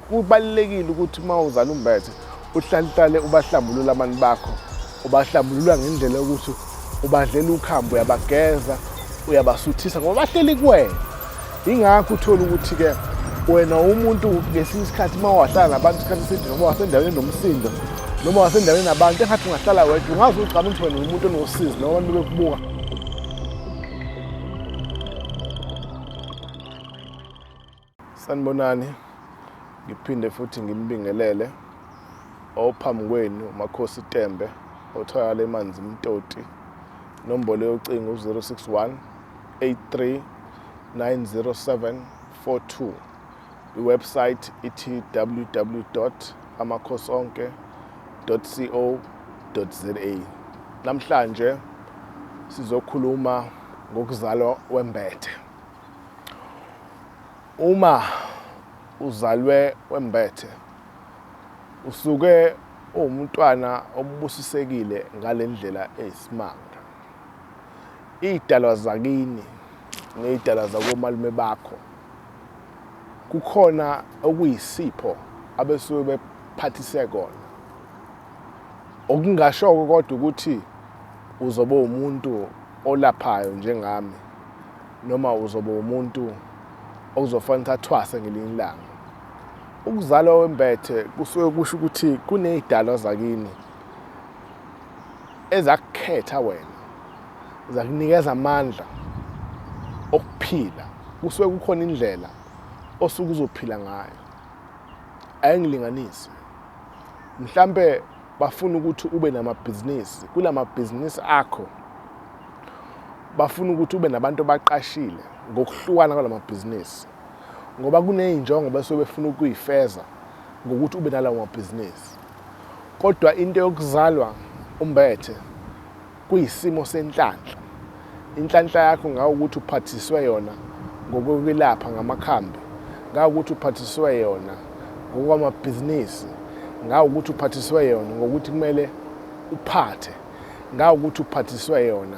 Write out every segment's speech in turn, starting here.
Kubalulekile ukuthi uma uzala umbethe uhlalihlale ubahlambulula abantu bakho, ubahlambulula ngendlela yokuthi ubadlela ukhambo, uyabageza, uyabasuthisa ngoba bahleli kuwena. Yingakho uthole ukuthi-ke wena umuntu ngesinye isikhathi uma wahlala nabantu isikhathi eside noma wasendaweni enomsindo noma wasendaweni nabantu engathi ungahlala wedwa ungazi ugcama ukuthi wena umuntu onosizi noma abantu bekubuka Sanibonani, ngiphinde futhi ngimbingelele ophambi kwenu uMakhosi Tembe otholakala eManzi Mtoti. Nombolo yocingo u-061 83 907 42. Iwebsite ithi www amakhosonke co za Namhlanje sizokhuluma ngokuzalwa wembethe. Uma uzalwe wembethe usuke uwumntwana obubusisekile ngalendlela eyisimanga. Idalwa zakini nezidalwa zakomalume bakho kukhona okuyisipho abesuke bephathise kona. Okungashoko kodwa ukuthi uzobe umuntu olaphayo njengami noma uzoba umuntu okuzofanele athwase ngelinye ilanga ukuzalwa wembethe kusuke kusho ukuthi kunezidalwa zakini ezakukhetha wena zakunikeza amandla okuphila kusuke kukhona indlela osuke uzophila ngayo ayingilinganisi mhlambe bafuna ukuthi ube namabhizinisi kula mabhizinisi akho bafuna ukuthi ube nabantu abaqashile ngokuhlukana kwala mabhizinisi ngoba kuney'njongo bese befuna ukuyifeza ngokuthi ube nalawo mabhizinisi kodwa into yokuzalwa umbethe Kuyisimo senhlanhla. Inhlanhla yakho ngawukuthi uphathiswe yona ngokokwelapha ngamakhambi, ngawukuthi uphathiswe yona ngokwamabhizinisi, ngawukuthi uphathiswe yona ngokuthi kumele uphathe, ngawukuthi uphathiswe yona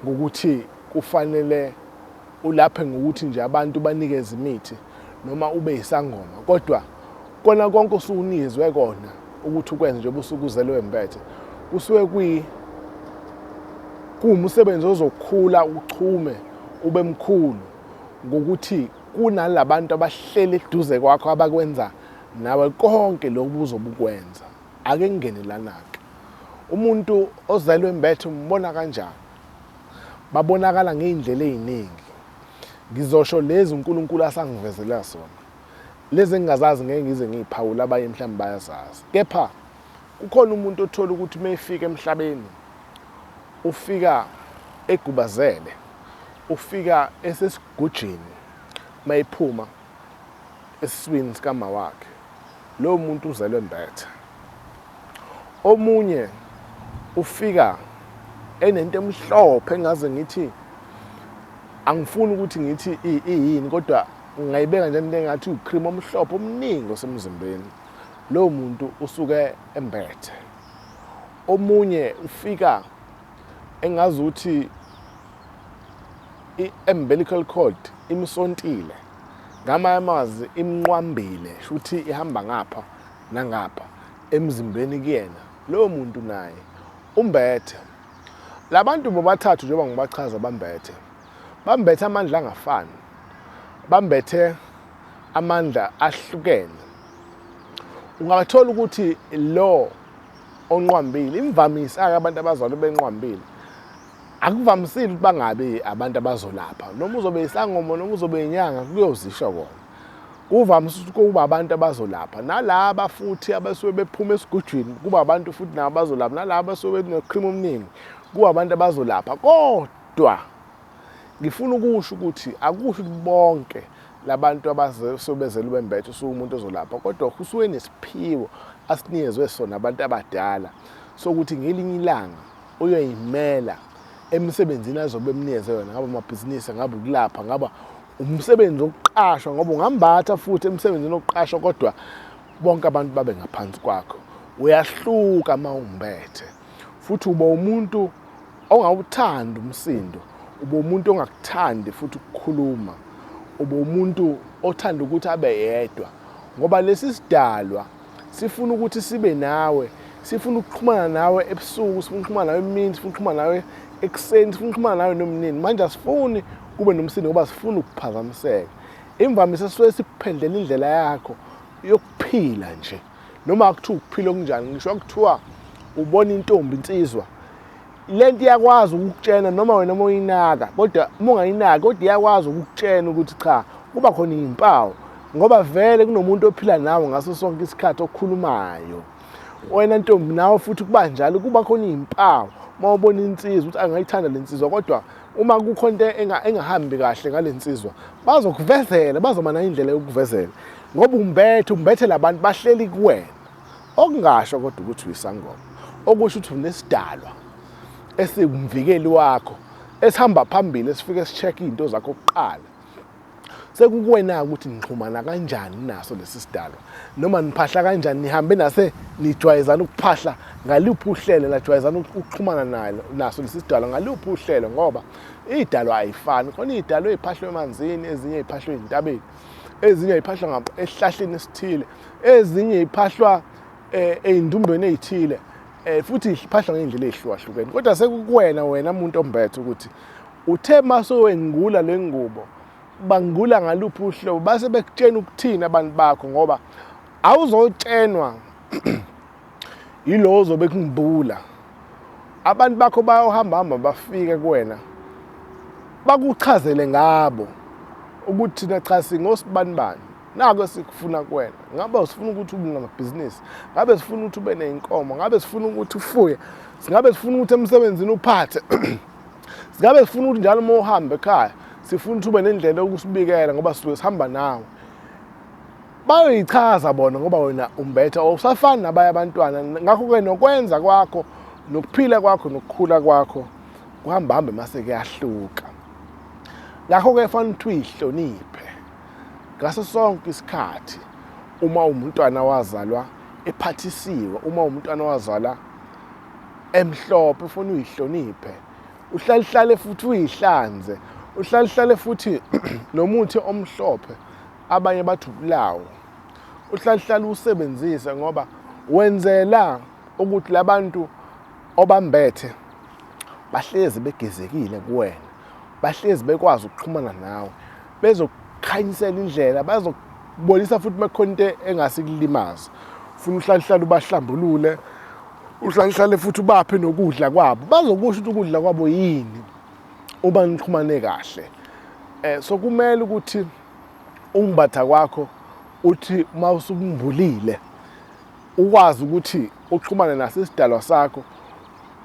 ngokuthi kufanele Ulaphe ngokuthi nje abantu banikeze imithi noma ube yisangoma kodwa kona konke osukunizwe kona ukuthi ukwenze njengoba usuke uzelwe mbethe kusuke kwi kuwumsebenzi ozokhula uchume ube mkhulu ngokuthi kunalabantu abahlele eduze kwakho abakwenza nawe konke lokhu uzobukwenza ake ngingene lanake umuntu ozelwe mbethe umbona kanjani Babonakala ngey'ndlela ey'ningi. Ngizosho lezi uNkulunkulu asangivezela zona. Lezi engingazazi ngeke ngize ngiy'phawule abanye mhlawumbe bayazazi. Kepha kukhona umuntu othola ukuthi uma efika emhlabeni ufika egubazele, ufika esesigujini uma ephuma esiswini sikamawakhe lowo muntu uzelwe mbethe omunye ufika enento emhlophe engaze ngithi angifuni ukuthi ngithi iyini kodwa ngingayibeka nje into engathi ucream omhlophe omningi osemzimbeni lowo muntu usuke embethe omunye ufika engazuthi i-umbilical cord imsontile ngamanye amazwi imnqwambile shuthi ihamba ngapha nangapha emzimbeni kuyena lowo muntu naye umbethe labantu bobathathu njengoba ngibachaza bambethe bambethe amandla angafani bambethe amandla ahlukene ungathola ukuthi lo onqwambile imvamisa ake abantu abazalwa benqwambile akuvamisile ukuthi bangabi abantu abazolapha noma uzobe isangoma noma uzobe inyanga kuyozisho kona kuvamise ukuthi kuba abantu abazolapha nalaba futhi abasuke bephuma esigujwini kuba abantu futhi nabo abazolapha nalaba abasuke benokhrimu omningi kuba abantu abazolapha kodwa Ngifuna ukusho ukuthi akusho ukuthi bonke labantu abasobezela ubembethe usuke umuntu ozolapha kodwa usuke nesiphiwo asinikezwe sona abantu abadala sokuthi ngelinye ilanga uyoyimela emsebenzini azobe emnikeze yona ngaba amabhizinisi ngaba ukulapha ngaba umsebenzi wokuqashwa ngoba ungambatha futhi emsebenzini wokuqashwa kodwa bonke abantu babe ngaphansi kwakho uyahluka uma umbethe Futhi uba umuntu ongawuthandi umsindo, uba umuntu ongakuthandi futhi ukukhuluma, uba umuntu othanda ukuthi abe yedwa. Ngoba lesi sidalwa sifuna ukuthi sibe nawe, sifuna ukuxhumana nawe ebusuku, sifuna ukuxhumana nawe emini, sifuna ukuxhumana nawe ekuseni, sifuna ukuxhumana nawe nomnini. Manje asifuni kube nomsindo ngoba sifuna ukuphazamiseka. Imvamisa sisuke sikuphendlela indlela yakho yokuphila nje. noma kuthiwa ukuphila okunjani ngisho kuthiwa ubona intombi insizwa lento iyakwazi ukukutshena noma wena uma uyinaka kodwa uma ungayinaki kodwa iyakwazi ukukutshena ukuthi cha kuba khona iy'mpawu ngoba vele kunomuntu ophila nawe ngaso sonke isikhathi okhulumayo wena ntombi nawe futhi kuba njalo kuba khona iy'mpawu uma ubona insizwa ukuthi angayithanda le nsizwa kodwa uma kukho into engahambi kahle ngale nsizwa bazokuvezela bazoba nayo indlela yokukuvezela ngoba umbethe umbethe labantu bahleli kuwena okungasho kodwa ukuthi uyisangoma okusho ukuthi unesidalwa esikumvikeli wakho esihamba phambili esifike sicheck izinto zakho kuqala sekukuwena ukuthi nixhumana kanjani naso lesi sidalwa noma niphahla kanjani nihambe nase nijwayezana ukuphahla ngaliphi uhlelo lajwayezana ukuxhumana nalo naso lesi sidalwa ngaliphi uhlelo ngoba idalwa ayifani khona idalwa eziphahlwe emanzini ezinye eziphahlwe ezintabeni ezinye ayiphahlwa ngabo esihlahleni esithile ezinye iphahlwa eh, eyindumbeni ezithile eh, futhi iphahlwa ngendlela ezihlukahlukene kodwa sekukuwena wena umuntu ombethe ukuthi uthe maso wengula lengubo bangula ngaluphi uhlobo base bekutshena ukuthini abantu bakho ngoba awuzotshenwa yilowo ozobe kungibula abantu bakho bayohamba hamba bafike kuwena bakuchazele ngabo ukuthi thina cha singosibani bani nako esikufuna kuwena ngabe usifuna ukuthi ube namabhizinisi ngabe sifuna ukuthi ube ney'nkomo ngabe sifuna ukuthi ufuye singabe sifuna ukuthi emsebenzini uphathe singabe sifuna ukuthi njalo uma uhambe ekhaya sifuna ukuthi ube nendlela yokusibikela ngoba sisuke sihamba nawe bayoyichaza bona ngoba wena umbetha usafani nabanye abantwana ngakho-ke nokwenza kwakho nokuphila kwakho nokukhula kwakho kuhambahambe mase kuyahluka ngakho-ke fanele ukuthi uyihloniphe ngaso sonke isikhathi uma umntwana wazalwa ephathisiwe uma umntwana wazalwa emhlophe ufuna uyihloniphe uhlalihlale futhi uyihlanze uhlalihlale futhi nomuthi omhlophe abanye bathi ubulawo uhlalihlala usebenzise ngoba wenzela ukuthi labantu obambethe bahlezi begezekile kuwena bahlezi bekwazi ukuxhumana nawe bezokukhanyisela indlela bazokubonisa futhi makhona into engasikulimaza ufuna uhlalihlala ubahlambulule uhlalihlale futhi ubaphe nokudla kwabo bazokusho ukuthi ukudla kwabo yini uma nixhumane kahle um so kumele ukuthi ukumbatha kwakho uthi uma usukumbulile ukwazi ukuthi uxhumane naso isidalwa sakho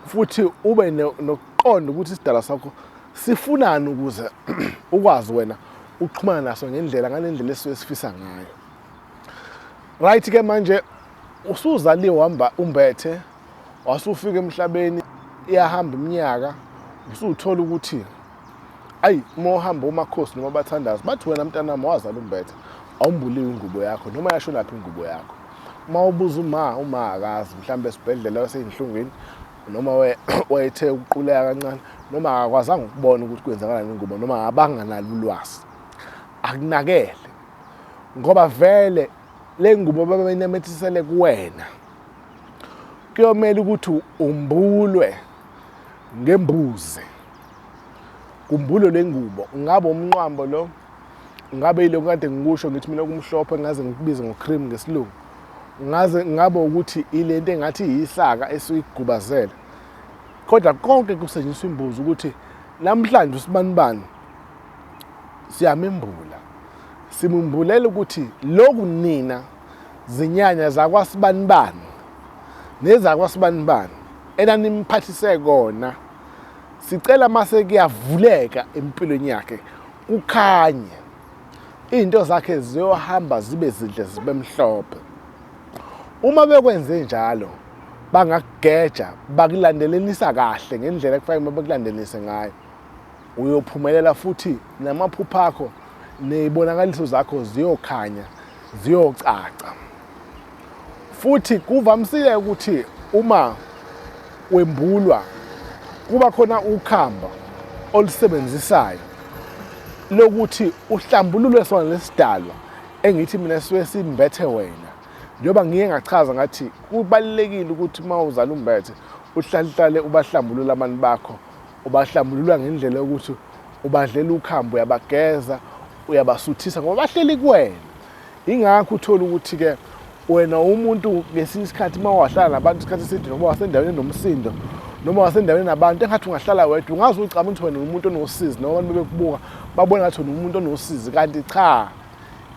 futhi ube nokuqonda ukuthi isidalwa sakho sifunani ukuze ukwazi wena uxhumana naso ngendlela ngalendlela esuke sifisa ngayo right ke manje usuzaliwe wamba umbethe wasufika emhlabeni iyahamba iminyaka usuthola ukuthi ayi uma uhamba umakhosi noma bathandazi bathi wena mntanami wazala umbethe awumbuliwe ingubo yakho noma yasho laphi ingubo yakho uma ubuza uma uma akazi mhlawumbe esibhedlela waseyinhlungwini noma wayethe ukuquleka kancane noma akakwazanga ukubona ukuthi kwenzakalani ingubo noma abanganalo ulwazi akunakele ngoba vele le ngubo babeyinemethisele kuwena kuyomele ukuthi umbulwe ngembuzi Kumbulo lengubo ungabe umnqwambo lo ngabe yilokhu kade ngikusho ngithi mina kumhlophe ngaze ngikubize ngocream ngesilungu ngaze ngabe ukuthi ilento engathi yisaka esuyigubazele kodwa konke kusetshenziswa imbuzi ukuthi namhlanje usibanibani siyamembula simumbulela ukuthi lokhu nina zinyanya zakwasibanibani nezakwasibanibani enanimphathise kona sicela mase kuyavuleka empilweni yakhe kukhanye izinto zakhe ziyohamba zibe zinhle zibe mhlophe uma bekwenze njalo bangakugeja bakulandelelisa kahle ngendlela ekufanele uma bekulandelise ngayo uyophumelela futhi namaphupho akho neyibonakaliso zakho ziyokhanya ziyocaca futhi kuvamisile ukuthi uma wembulwa kuba khona ukhamba olusebenzisayo lokuthi uhlambulule sona lesidalwa engithi mina suke simbethe wena njengoba ngiye ngachaza ngathi kubalulekile ukuthi uma uzala umbethe uhlalihlale ubahlambulula abantu bakho ubahlambulula ngendlela yokuthi ubadlela ukhambo uyabageza uyabasuthisa ngoba bahleli kuwena Ingakho uthole ukuthi-ke wena umuntu ngesinye isikhathi uma wahlala nabantu isikhathi eside noma wasendaweni enomsindo noma wasendaweni nabantu engathi ungahlala wedwa ungazi ucabanga ukuthi wena umuntu onosizi noma abantu bebekubuka babona ngathi wena umuntu onosizi kanti cha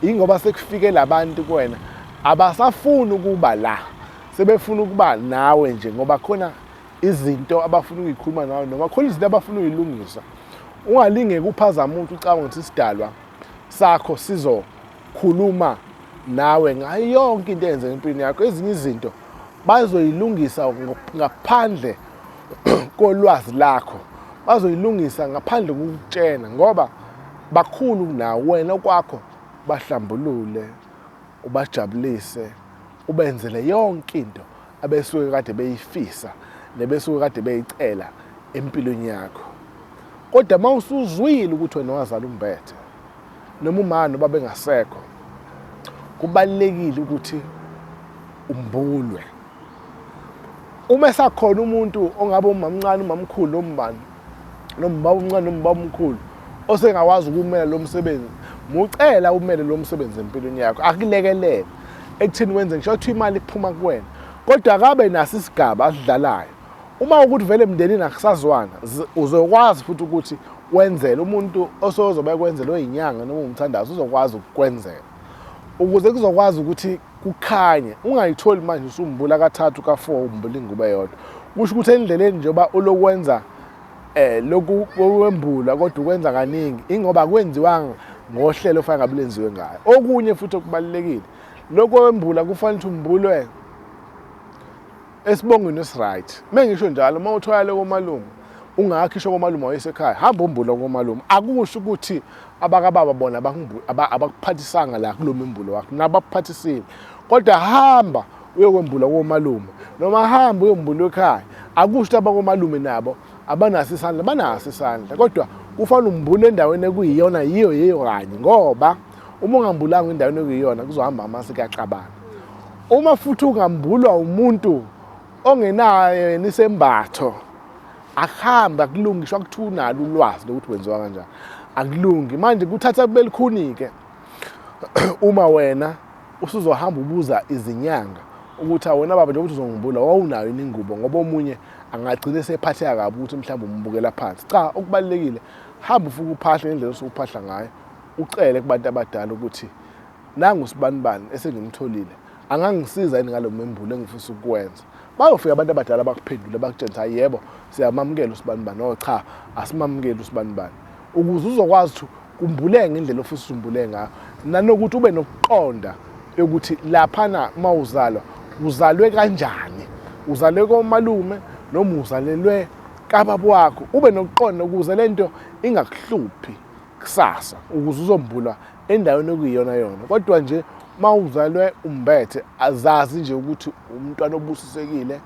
yingoba sekufike labantu kuwena abasafuni ukuba la sebefuna ukuba nawe nje ngoba khona izinto abafuna ukuyikhuluma nawe noma khona izinto abafuna ukuyilungisa ungalinge kuphazama umuntu ucabanga ukuthi isidalwa sakho sizokhuluma nawe ngayo yonke into eyenzeka empilweni yakho ezinye izinto bazoyilungisa ngaphandle kolwazi lakho bazoyilungisa ngaphandle kokutshena ngoba bakhulu kunawe wena okwakho bahlambulule ubajabulise ubenzele yonke into abesuke kade beyifisa nebesuke kade beyicela empilweni yakho kodwa uma usuzwile ukuthi wena wazala umbethe noma umani uba bengasekho kubalulekile ukuthi umbulwe uma esakhona umuntu ongabe umamncane umamkhulu nommbani noma ubaba omncane noma ubaba omkhulu osengakwazi ukumela lo msebenzi mucela umele lo msebenzi empilweni yakho akulekelele ekuthini wenze ngisho kuthiwa imali kuphuma kuwena kodwa akabe naso isigaba asidlalayo uma ukuthi vele emndenini akusazwana uzokwazi futhi ukuthi wenzele umuntu osozobe ekwenzelwe inyanga noma umthandazo uzokwazi ukukwenzela ukuze kuzokwazi ukuthi kukhanye ungayitholi manje usumbula kathathu ka-four umbula ingubo eyodwa kusho ukuthi endleleni njengoba ulokwenza eh lokhu kwembula kodwa ukwenza kaningi ingoba kwenziwanga ngohlelo ofanele ngabe lenziwe ngayo okunye futhi okubalekile lokho wembula kufanele ukuthi umbulwe Esibongweni esiright. Mengisho njalo uma uthwale komalume ungakhisha komalume wayesekhaya hamba umbula komalume akusho ukuthi abakababa bona abakuphathisanga la kulo mimbulo wakho nabakuphathisile kodwa hamba uyokwembula komalume noma hamba uyombula ekhaya akusho ukuthi abakomalume nabo abanaso isandla banaso isandla kodwa kufanele umbule endaweni ekuyiyona yiyo yiyo kanye ngoba Uma ungambulanga endaweni okuyiyona kuzohamba amasi kuyacabanga. Uma futhi ungambulwa umuntu ongenayo yena isembatho akuhambe akulungi ngisho kuthiwa unalo ulwazi lokuthi wenziwa kanjani akulungi manje kuthatha kube likhuni-ke uma wena usuzohamba ubuza izinyanga ukuthi awona baba njengokuthi uzongibula wawunayo yini ingubo ngoba omunye angagcina esephatheka kabi ukuthi mhlawumbe umbukela phansi cha okubalulekile hamba ufuke uphahle ngendlela osukuphahla ngayo Ucele kubantu abadala ukuthi nangu usibanibani esengimtholile angangisiza yini ngalo membulo engifisa ukuwenza bayofika abantu abadala bakuphendule bakutshela ukuthi yebo siyamamukela usibanibani o cha asimamukeli usibanibani ukuze uzokwazi ukuthi kumbuleke ngendlela ofisa usumbule ngayo nanokuthi ube nokuqonda yokuthi laphana uma uzalwa uzalwe kanjani uzalwe komalume noma uzalelwe kababa wakho ube nokuqonda ukuze le nto ingakuhluphi kusasa ukuze uzombula endaweni okuyiyona yona kodwa nje uma uzalwe umbethe azazi nje ukuthi umntwana obusisekile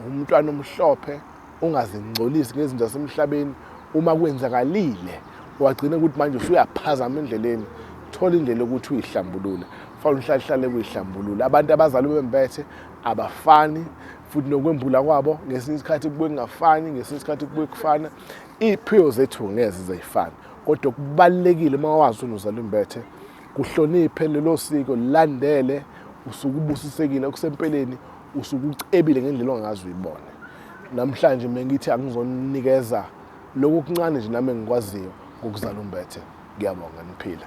umntwana omhlophe ungazingcolisi ngezinto zasemhlabeni uma kwenzakalile wagcina ukuthi manje usuyaphazama endleleni thola indlela yokuthi uyihlambulule fanele uhlalehlale kuyihlambulula abantu abazalwe bembethe abafani futhi nokwembula kwabo ngesinye isikhathi kubuye kungafani ngesinye isikhathi kubuye kufana Iy'phiwo zethu ngeze zayifana kodwa okubalulekile uma wazi unozala imbethe kuhloniphe lelo siko lilandele usuke ubusisekile okusempeleni usuke ucebile ngendlela ongazi uyibone namhlanje mina ngithi angizonikeza lokhu kuncane nje nami engikwaziyo ngokuzala umbethe ngiyabonga niphile